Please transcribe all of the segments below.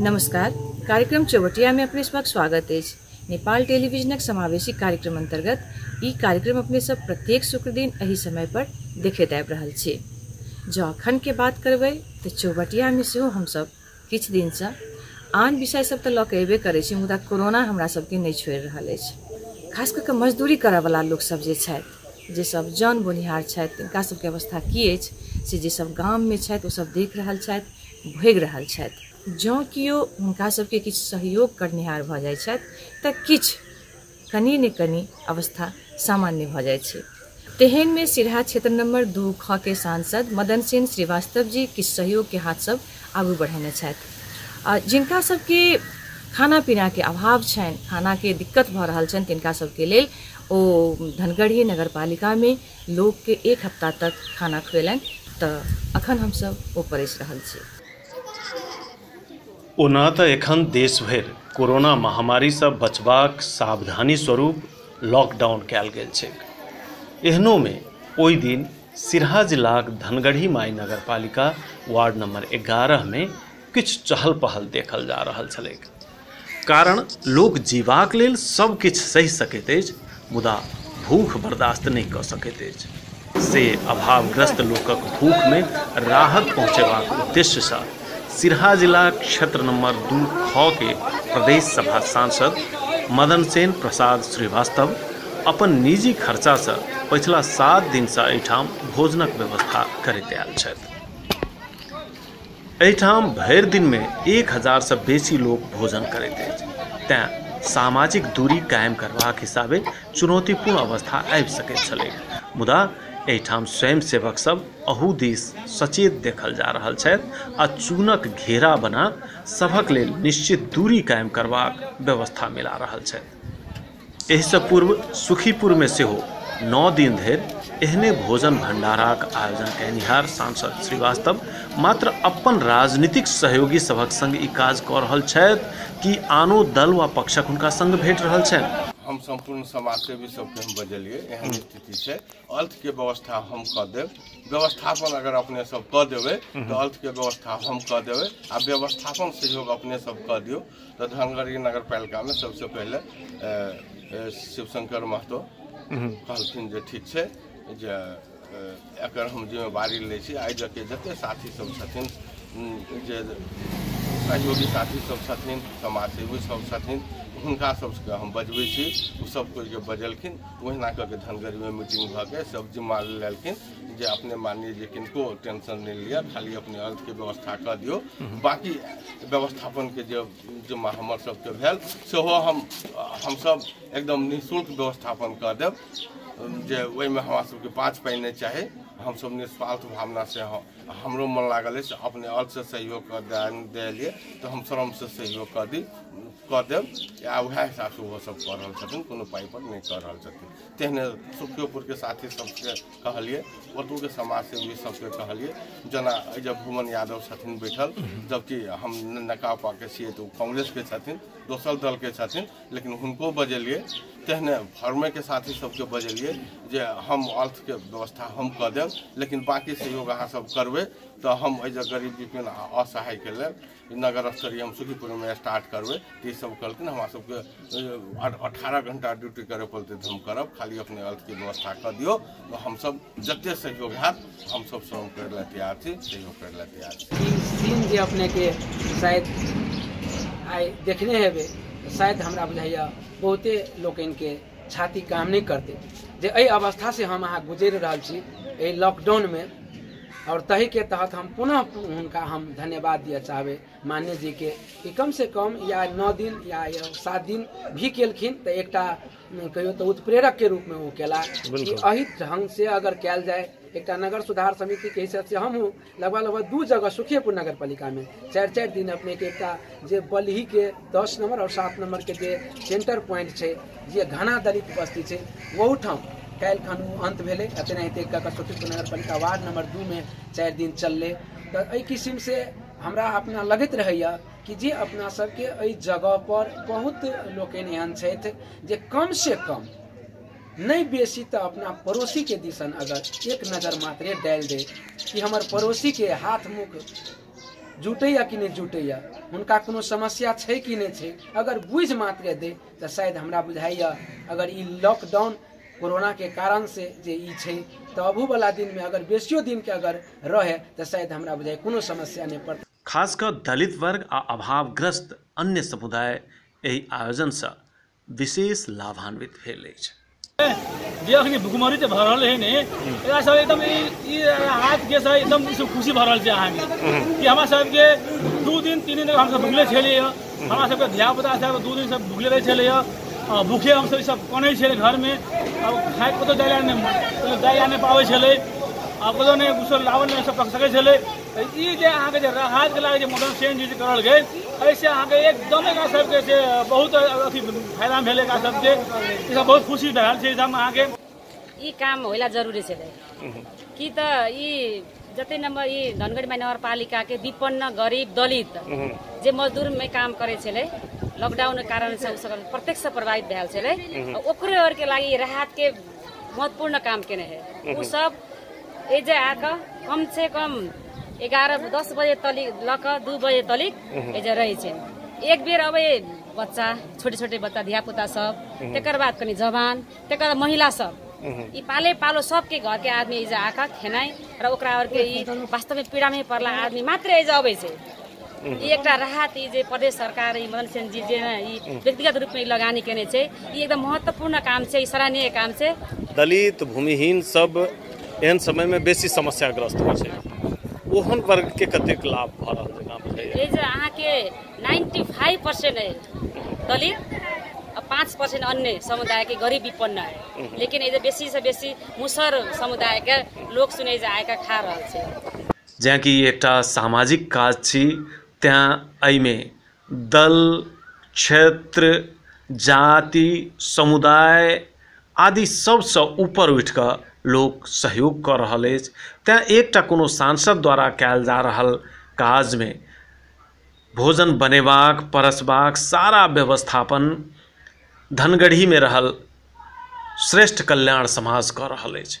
नमस्कार कार्यक्रम चौवटिया में अपने सबक स्वागत अछि नेपाल टेलीविजनक समावेशी कार्यक्रम अंतर्गत ई कार्यक्रम अपने सब प्रत्येक शुक्र दिन एहि समय पर देखैत आबि रहल छी जँ अखन के बात करबै तऽ चौवटिया में सेहो हमसब किछु दिन से आन विषय सब तऽ लऽ के अयबे करै छी मुदा कोरोना हमरा सबके नहि छोड़ि रहल अछि खास कऽ के मजदूरी करय वाला लोक सब जे छथि जे सब जन बोनिहार छथि तिनका सबके अवस्था की अछि से जे सब गाम में छथि ओ सब देख रहल छथि भोगि रहल छथि जँ केओ हुनका सभके किछु सहयोग करनिहार भऽ जाइ छथि तऽ किछु कनि ने कनि अवस्था सामान्य भऽ जाइ छै तेहन में सिरहा क्षेत्र नंबर दू ख के सांसद मदन सेन श्रीवास्तव जी किछु सहयोग के हाथ सब आगू बढ़ेने छथि आ जिनका सबके खाना पीना के अभाव छनि खाना के दिक्कत भऽ रहल छनि तिनका सबके लेल ओ धनगढ़ी नगर पालिका में लोकके एक हफ्ता तक खाना खुएलनि तऽ अखन हमसब ओ परसि रहल छी। ओना तऽ एखन देश भरि कोरोना महामारीसँ बचबाक सावधानी स्वरूप लॉकडाउन कयल गेल छैक। एहनोमे ओहि दिन सिरहा जिलाक धनगढ़ी माई नगरपालिका वार्ड नम्बर एगारह मे किछु चहल पहल देखल जा रहल छलैक। कारण लोक जीबाक लेल सब किछु सहि सकैत अछि मुदा भूख बर्दास्त नहि कऽ सकैत अछि से अभावग्रस्त लोकक भूखमे राहत पहुँचेबाक उद्देश्यसँ सिरहा जिला क्षेत्र नम्बर दू खऽ के प्रदेश सभा सांसद मदन सेन प्रसाद श्रीवास्तव अपन निजी खर्चासँ पछिला सात दिनसँ एहिठाम भोजनक व्यवस्था करैत आयल छथि एहिठाम भरि दिनमे एक हजारसँ बेसी लोक भोजन करैत अछि तैँ सामाजिक दूरी कायम करबाक हिसाबे चुनौतीपूर्ण अवस्था आबि सकैत छलै मुदा एहिठाम स्वयं सेवक सब अहू दिस सचेत देखल जा रहल छथि आ चूनक घेरा बना सभक लेल निश्चित दूरी कायम करबाक व्यवस्था मिला रहल छथि एहिसँ पूर्व सुखीपुरमे सेहो नओ दिन धरि एहने भोजन भण्डाराक आयोजन कयनिहार सांसद श्रीवास्तव मात्र अपन राजनीतिक सहयोगी सभक सङ्ग ई काज कऽ रहल छथि कि आनो दल वा पक्षक हुनका सङ्ग भेट रहल छनि हम सम्पूर्ण समाजसेवी सबके हम बजलियै एहन स्थिति छै अर्थके व्यवस्था हम कऽ देब व्यवस्थापन अगर अपने सब कऽ देबै तऽ अर्थके व्यवस्था हम कऽ देबै आ व्यवस्थापन सहयोग अपने सब कऽ दियौ तऽ धनगढ़ी नगर पालिकामे सबसँ पहिले शिवशंकर महतो कहलखिन जे ठीक छै जे एकर हम जिम्मेवारी लै छी आइ जते जतेक साथीसभ छथिन जे सहयोगी साथीसभ छथिन समाजसेवी सब छथिन हुनका सबके हम बजबै छी ओ सब कोइके बजेलखिन ओहिना कऽ के धनगढ़ीमे मीटिंग भऽ के सब जिम्मा लेलखिन जे अपने मानिए जे किनको टेंशन नहि लिअ खाली अपने अर्थके व्यवस्था कऽ दियौ बाकी व्यवस्थापनके जे जिम्मा हमर सबके भेल सेहो हम हमसब एकदम निःशुल्क व्यवस्थापन कऽ देब जे ओहिमे हमरा सबके पाँच पाइ नहि चाही हमसब निस्वार्थ भावना से हम- हमरो मन लागल अछि अपने अर्थ से सहयोग कऽ दे- देलिए तऽ हम श्रम से सहयोग कऽ दी कऽ देब आ उएह हिसाबसँ ओहो सब कऽ रहल छथिन कोनो पाइ पर नहि कऽ रहल छथिन तेहने सुखियोपुरके साथी सबके कहलियै ओतहुके समाजसेवी सबके कहलियै जेना एहि जे भुवन यादव छथिन बैठल जबकि हम नकापाके छियै तऽ ओ कांग्रेसके छथिन दोसर दलके छथिन लेकिन हुनको बजेलियै तेहने फर्मेके साथी सबके बजेलियै जे हम अर्थके व्यवस्था हम कऽ देब लेकिन बाँकी सहयोग अहाँ सब करबै तऽ हम एहि जे गरीब विपिन आ असहायके लेल जे नगर स्तरीय हम सुखीपुरमे स्टार्ट करबै तऽ ई सब कहलखिन हमरा सबके अठारह घण्टा ड्यूटी करऽ पड़तै तऽ हम करब खाली अपने अर्थके व्यवस्था कऽ दियौ हम सब जते सहयोग होयत हम सब श्रम करै लए तैयार छी सहयोग करै लए तैयार छी ई सीन जे अपनेके शायद आइ देखने हेबै शायद हमरा बुझाइया बहुते लोकनिके छाती काम नहि करतै जे एहि अवस्थासँ हम अहाँ गुजरि रहल छी एहि लॉकडाउनमे आओर तहीके तहत हम पुनः हुनका हम धन्यवाद दिअ चाहबै मान्य जीके कि कमसँ कम या नओ दिन या सात दिन भी केलखिन तऽ एकटा कहियो तऽ उत्प्रेरकके रूपमे ओ केला कि एहि ढङ्गसँ अगर कयल जाय एकटा नगर सुधार समितिके हिसाबसँ हमहूँ लगभग लगभग दू जगह सुखियेपुर नगर पालिका में चारि चारि दिन अपने के एकटा जे बलही के दस नंबर और सात नंबर के जे सेंटर पॉइंट छै जे घना दलित बस्ती छै ओहू ठाम काल्हि खन ओ अंत भेलै आ तेनाहिते कऽ कऽ सुखियेपुर नगर पालिका वार्ड नंबर दू में चारि दिन चललै तऽ एहि किसिम से हमरा अपना लगैत रहैया कि जे अपना सबके एहि जगह पर बहुत लोकनि एहन छथि जे कम से कम नहि बेसी तऽ अपना पड़ोसीके दिसन अगर एक नजर मात्रे डालि दे कि हमर पड़ोसीके हाथ मुख जुटैया कि नहि जुटैया हुनका कोनो समस्या छै कि नहि छै अगर बुझि मात्रे दे तऽ शायद हमरा बुझाइया अगर ई लॉकडाउन कोरोनाके कारण से जे ई छै तऽ अबूवला दिनमे अगर बेसियो दिनके अगर रहै तऽ शायद हमरा बुझाइ कोनो समस्या नहि पड़तै खास कऽ दलित वर्ग आ अभावग्रस्त अन्य समुदाय एहि आयोजनसँ विशेष लाभान्वित भेल अछि जे अखनी भुखमरी जे भऽ रहल है ने एकरा सब एकदम ई ई हाथ के सब एकदम ई सब खुशी भऽ रहल छै अहाँ के कि हमरा सब के दू दिन तीन दिन तक हम सब भुखले छलिए हमरा सब के धिया पुता सब दू दिन सब भुखले रहे छलिए आ भूखे हम सब ई सब कोने छले घर में अब खाए कतो जाय ला ने जाय ला ने पावे छले अब कतो ने कुछ लावल ने सब पक सके छले ई जे अहाँके जे राहत के लागे जे मौसम चेंज जे करल गए ऐसे अहाँके एकदम एकरा सबके जे बहुत अथी फायदा भेल एकरा सबके ई सब बहुत खुशी भेल छै ई सब अहाँके ई काम होला जरुरी छलै कि त ई जते नम्बर ई धनगढी महानगरपालिका के विपन्न गरिब दलित जे मजदूर में काम करे छलै लॉकडाउन के कारण से उ सब प्रत्यक्ष से प्रभावित भेल छलै आ ओकरे और के लागि राहत के महत्वपूर्ण काम केने है उ सब एजे आके कम से कम एगारह दस बजे तलिक लऽ कऽ दू बजे तलिक एजे रहै छै एक बेर अबै बच्चा छोटे छोटे बच्चा धिया पुता सब तकर बाद कनि जवान तकर बाद महिला सब ई पाले पालो सबके घर के आदमी एजे आके खेनाइ र ओकरा आर के ई वास्तव में पीड़ा में पड़ला आदमी मात्र एजे अबै छै ई एकटा राहत ई जे प्रदेश सरकार ई मदन सेन जी जे ने ई व्यक्तिगत रूपमे ई लगानी केने छै ई एकदम महत्वपूर्ण काम छै ई सराहनीय काम छै दलित भूमिहीन सब एहन समयमे बेसी समस्याग्रस्त होइ छै ओहन वर्गके कतेक लाभ भऽ रहल छै गाम छै ई जे अहाँके नाइन्टी फाइव पर्सेन्ट है दलित आ पाँच पर्सेन्ट अन्य समुदायके गरीब विपन्न है लेकिन ई जे बेसीसँ बेसी मुसर समुदायके लोक सुनै जे आइके खा रहल छै जेनाकि ई एकटा सामाजिक काज छी तैँ एहिमे दल क्षेत्र जाति समुदाय आदि सभसँ ऊपर उठि कऽ लोक सहयोग कऽ रहल अछि तैँ एकटा कोनो सांसद द्वारा कयल जा रहल काजमे भोजन बनेबाक परसबाक सारा व्यवस्थापन धनगढ़ीमे रहल श्रेष्ठ कल्याण समाज कऽ रहल अछि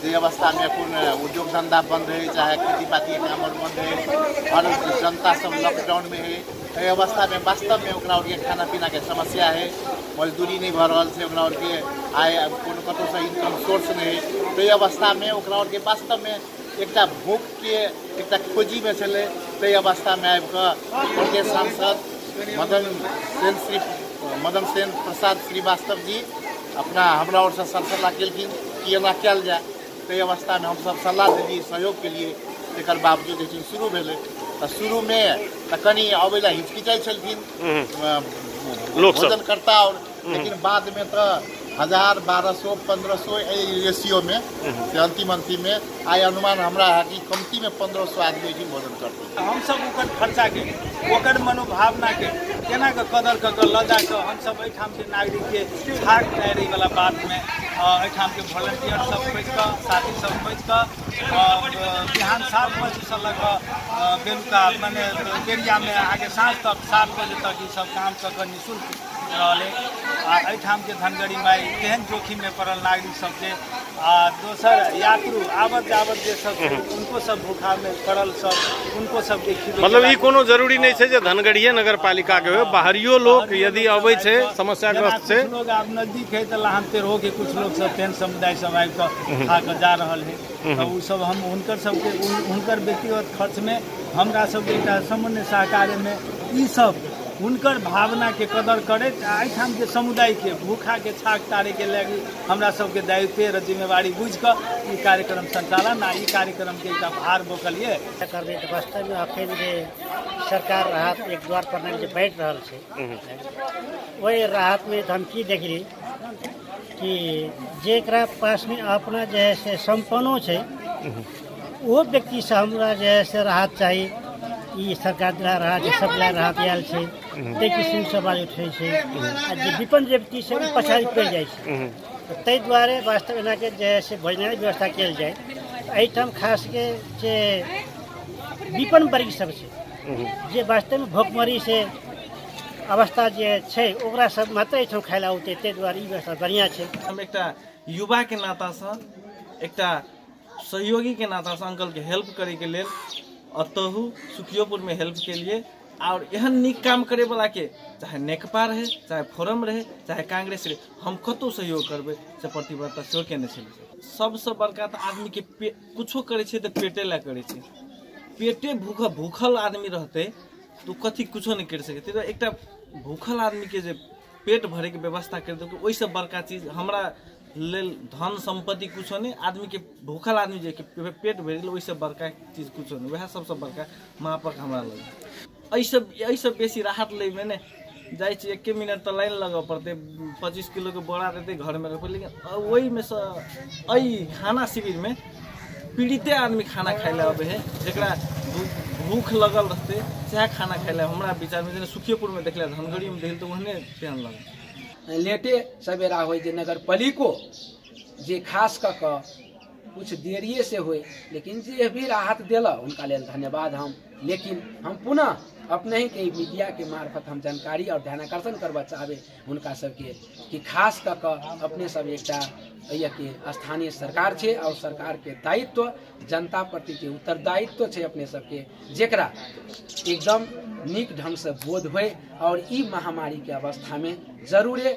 जे अवस्थामे एखन उद्योग धन्धा बन्द रहै चाहे खेती पाती काम बन्द रहै हर जनता सब लॉकडाउनमे है एहि अवस्थामे वास्तवमे ओकरा आरके खाना पीनाके समस्या है मजदूरी नहि भऽ रहल छै ओकरा आरके आय कोनो कतहुसँ इनकम सोर्स नहि है ताहि अवस्थामे ओकरा आरके वास्तवमे एकटा भूख के एकटा खोजी में छलै ताहि अवस्था में आबि कऽ सांसद मदन सेन श्री मदन सेन प्रसाद श्रीवास्तव जी अपना हमरा ओर से सब सलाह केलखिन कि एना कयल जाय ताहि अवस्था में हम सब सलाह देलियै सहयोग केलियै तकर बावजूद जे छै शुरू भेलै तऽ शुरू में तऽ कनि अबै लए हिचकिचाइ छलखिन भोजनकर्ता आओर लेकिन बाद में तो हजार बारह सौ पंद्रह सौ रेशियो में से अंतिम अंतिम में आय अनुमान हमरा है कि कमती में पंद्रह सौ आदमी की भोजन करते हम सब ओकर खर्चा के ओकर मनोभावना के केना के कदर क के ल जा के हम सब एठाम के नागरिक के भाग जाय रही वाला बात में अ, एठाम के वॉलंटियर सब खोज के साथी सब खोज के अ, बिहान सात बजे से लग बेलुका मने बेरिया में आगे साँझ तक सात बजे तक ई सब काम क के रहलै आ एहिठाम के धनगरी माई केहन जोखिम में पड़ल नागरिक सबके आ दोसर यात्रु आबत जाबत जे सब छै, उनको सब भूखा में पड़ल सब उनको सबके खिबै मतलब ई कोनो जरूरी नहि छै जे धनगढ़िए नगर पालिका के होय बाहरियो लोक यदि अबै छै समस्याग्रस्त छै लोग आब नजदीक है तऽ लहान तेरहो के कुछ लोग सब फेन समुदाय सब आबि कऽ खा कऽ जा रहल है हूँ तऽ हूँ ओसभ हम हुनकर सभके हुनकर व्यक्तिगत खर्चमे हमरा सभके एकटा सामान्य सहकार्यमे ईसभ हुनकर भावनाके कदर करैत आ एहिठाम जे समुदायके भूखाके छाक तारैके लागि हमरा सभके दायित्व र जिम्मेवारी बुझि कऽ ई कार्यक्रम सञ्चालन आ ई कार्यक्रमके एकटा भार बोकलियै करबै तऽ वास्तवमे अखन जे सरकार राहत एक द्वार प्रणाली जे बाँटि रहल छै ओहि राहतमे तऽ हम की देखली कि जेकरा पासमे अपना जे है से सम्पन्नो छै ओहो व्यक्तिसँ हमरा जे है से राहत चाही ई सरकार द्वारा राहत जे सप्लाई राहत आयल छै ताहि किसिमसँ आवाज उठै छै आ जे विपन्न व्यक्ति छै ओ पछाड़ि पड़ि जाइ छै तऽ ताहि दुआरे वास्तव एनाके जे है से भोजनालय व्यवस्था कयल जाय एहिठाम खास के जे विपन्न वर्ग सब छै जे वास्तवमे भोकमरी से अवस्था जे छै ओकरा सब मात्र एहिठाम खाय लए औतै ताहि दुआरे ई व्यवस्था बढ़िआँ छै हम एकटा युवाके नातासँ एकटा सहयोगीके नातासँ अंकलके हेल्प करैके लेल अतहु सुखियोपुरमे हेल्प केलिए आओर एहन नीक काम करैवलाके चाहे नेकपा रहै चाहे फोरम रहै चाहे कांग्रेस रहै हम कतहु सहयोग करबै से प्रतिबद्धता सेहो केने छलै सबसँ बड़का तऽ आदमीके पे किछो करै छै तऽ पेटे लए करै छै पेटे भूख भूखल आदमी रहतै तू कथी कुछो नहि करि सकै ताहि एकटा भूखल आदमीके जे पेट भरैके व्यवस्था करि देलकै ओहिसँ बड़का चीज हमरा लेल धन सम्पत्ति कुछो नहि आदमीके भूखल आदमी जे पेट भरि गेल ओहिसँ बड़का चीज कुछो नहि उएह सभसँ बड़का महापर्व हमरा लगैए एहिसँ एहिसँ बेसी राहत लैमे ने जाइ छी एके मिनट तऽ लाइन लगऽ पड़तै पच्चीस किलोके बोरा देतै घरमे रखबै लेकिन ओहिमे सँ एहि खाना शिविरमे पीड़िते आदमी खाना खाइ लए अबै है जकरा भू- भूख लगल रहतै सएह खाना खाइ लए हमरा विचारमे जेना सुखियेपुरमे देखले धनगढ़ीमे देखल तऽ ओहने तेहन लगल लेटे सवेरा होइ जे नगर पालिको जे खास कऽ कऽ किछु देरिए से होइ लेकिन जे भी राहत देलक हुनका लेल धन्यवाद हम लेकिन हम पुनः अपने के मीडिया के मार्फत हम जानकारी और ध्यान आकर्षण करवा चाहबे हुनका सबके कि खास कऽ कऽ अपने सब एकटा एहिया के स्थानीय सरकार छै और सरकार के दायित्व जनता प्रति के उत्तरदायित्व छै अपने सबके जेकरा एकदम नीक ढंग से बोध होय और ई महामारी के अवस्था में जरूरे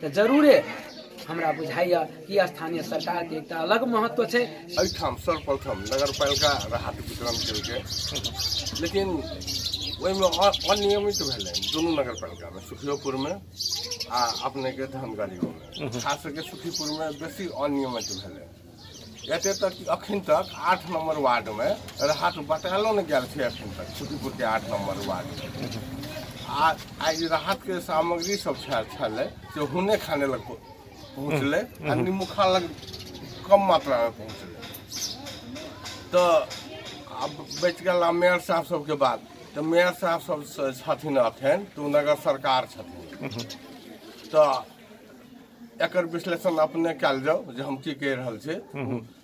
तऽ जरूरे हमरा बुझाइए कि स्थानीय सरकारके एकटा अलग महत्व छै एहिठाम सर्वप्रथम नगर पालिका राहत वितरण केलकै लेकिन ओहिमे अनियमित भेलै दुनू नगर पालिकामे सुखियोपुरमे आ अपनेके धनगढ़ीमे खास करके सुखीपुरमे बेसी अनियमित भेलै एतऽ तक कि अखन तक आठ नम्बर वार्डमे राहत बतायलो नहि गेल छै अखन तक सुखीपुरके आठ नम्बर वार्डमे आ आइ जे राहतके सामग्री सब छल- छलै से हुने खाने लग पहुँ- पहुँचलै आ निमुखा लग कम मात्रामे पहुँचलै तऽ आब बचि गेल आ मेयर साहब सबके बात तऽ मेयर साहब सब स- छथिन अखन तऽ ओ नगर सरकार छथिन तऽ एकर विश्लेषण अपने कयल जाउ जे हम की कहि रहल छी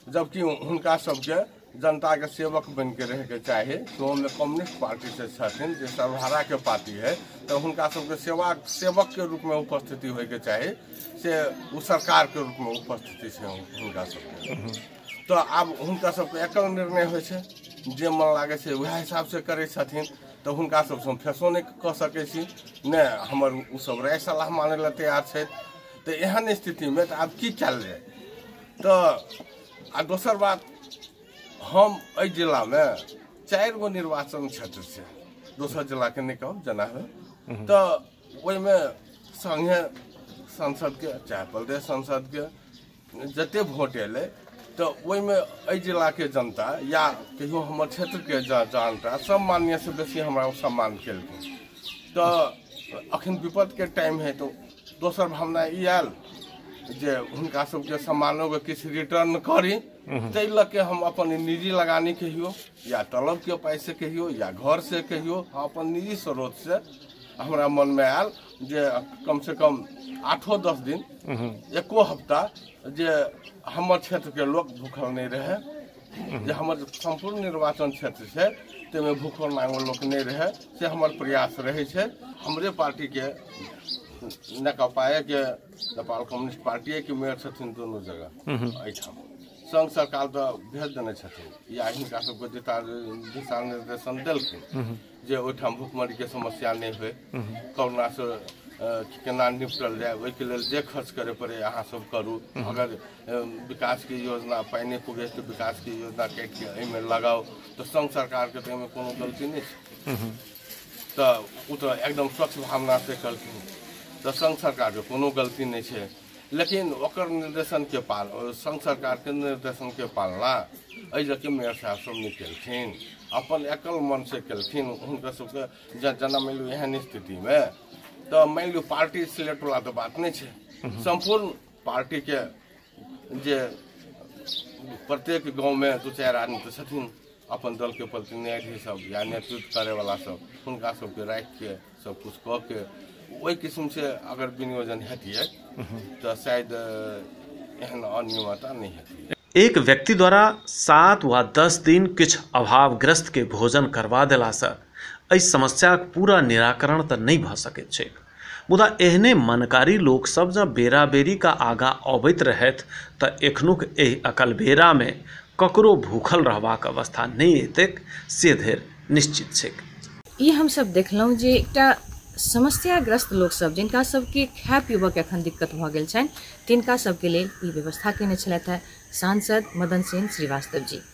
जबकि हुनका सबके जनताके सेवक बनि के रहैके चाही ओहोमे कम्युनिस्ट पार्टी से छथिन जे सर्वहाराके पार्टी है तऽ हुनका सबके सेवा सेवकके रूपमे उपस्थिति होइके चाही से ओ सरकारके रूपमे उपस्थिति छै हुनका सबके तऽ आब हुनका सबके एकल निर्णय होइ छै जे मन लागै छै उएह हिसाबसँ करै छथिन तऽ हुनका सबसँ हम फेसो नहि कऽ सकै छी ने हमर ओ सब राय सलाह मानै लए तैयार छथि तऽ एहन स्थितिमे तऽ आब की कयल जाय तऽ आ दोसर बात हम एहि जिलामे चारि गो निर्वाचन क्षेत्र छै दोसर जिलाके नहि कहब जेना है तऽ ओहिमे संगे सांसदके चाहे प्रदेश सांसदके जते वोट एलै तऽ ओहिमे एहि जिलाके जनता या कहियो हमर क्षेत्रके जनता सम्मान्य से बेसी हमरा ओ सम्मान केलकै तऽ अखन विपदके टाइम है तऽ दोसर भावना ई आयल जे हुनका सबके सम्मानोके किछु रिटर्न करी ताहि लऽ के हम अपन निजी लगानी कहियो या तलबके पाइसँ कहियो या घरसँ कहियो हम अपन निजी स्रोतसँ हमरा मनमे आयल जे कम से कम आठो दस दिन एको हफ्ता जे हमर क्षेत्र के लोग भूखल नहीं रहे जे हमर संपूर्ण निर्वाचन क्षेत्र छै ताहिमे भूखल नांगो लोक नहि रहै से हमर प्रयास रहै छै हमरे पार्टी के नेकपाएके नेपाल कम्युनिस्ट पार्टीएके मेयर छथिन दुनू जगह एहिठाम संघ सरकार तऽ भेज देने छथिन या हिनका सबके दिशा दिशा निर्देशन देलखिन जे ओहिठाम भुखमरीके समस्या नहि होइ कोरोनासँ अ, केना निपटल जाय ओहिके लेल जे खर्च करे पड़े अहाँ सब करू अगर अ, विकासके योजना पाइ नहि पुगे तऽ विकासके योजना काटिके एहिमे लगाउ तऽ संघ सरकारके तऽ एहिमे कोनो गलती नहि छै तऽ ओ तऽ एकदम स्वच्छ भावनासँ कहलखिन तऽ संघ सरकारके कोनो गलती नहि छै लेकिन ओकर निर्देशनके पाल संघ सरकारके निर्देशनके पालना एहि लऽ कऽ मेयर साहब सब नहि केलखिन अपन एकल मनसँ केलखिन हुनकर सबके जँ जेना मानि लिअ एहन स्थितिमे तऽ मानि लिअ पार्टी सिलेक्टवला तऽ बात नहि छै सम्पूर्ण पार्टीके जे प्रत्येक गाँवमे दू चारि आदमी तऽ छथिन अपन दलके प्रतिनिधि सब या नेतृत्व करैवला सब हुनका सबके राखिके सब कुछ कऽ के ओहि किस्म से अगर विनियोजन हेतियै तऽ शायद एहन अनियमता नहि हेतियै एक व्यक्ति द्वारा सात वा दस दिन किछु अभावग्रस्त के भोजन करवा देलासँ एहि समस्याक पूरा निराकरण तऽ नहि भऽ सकैत छैक मुदा एहने मनकारी लोक सब जँ बेरा बेरी का आगाँ अबैत रहथि तऽ एखनुक एहि अकलबेरा मे ककरो भूखल रहबाक अवस्था नहि एतैक से धरि निश्चित छैक। ई हम सब देखलहुँ जे एकटा समस्याग्रस्त लोक सब जिनका सबके खाय पीबऽ के अखन दिक्कत भऽ गेल छनि तिनका सबके लेल ई व्यवस्था केने छलथि हे सांसद मदन सेन श्रीवास्तव जी।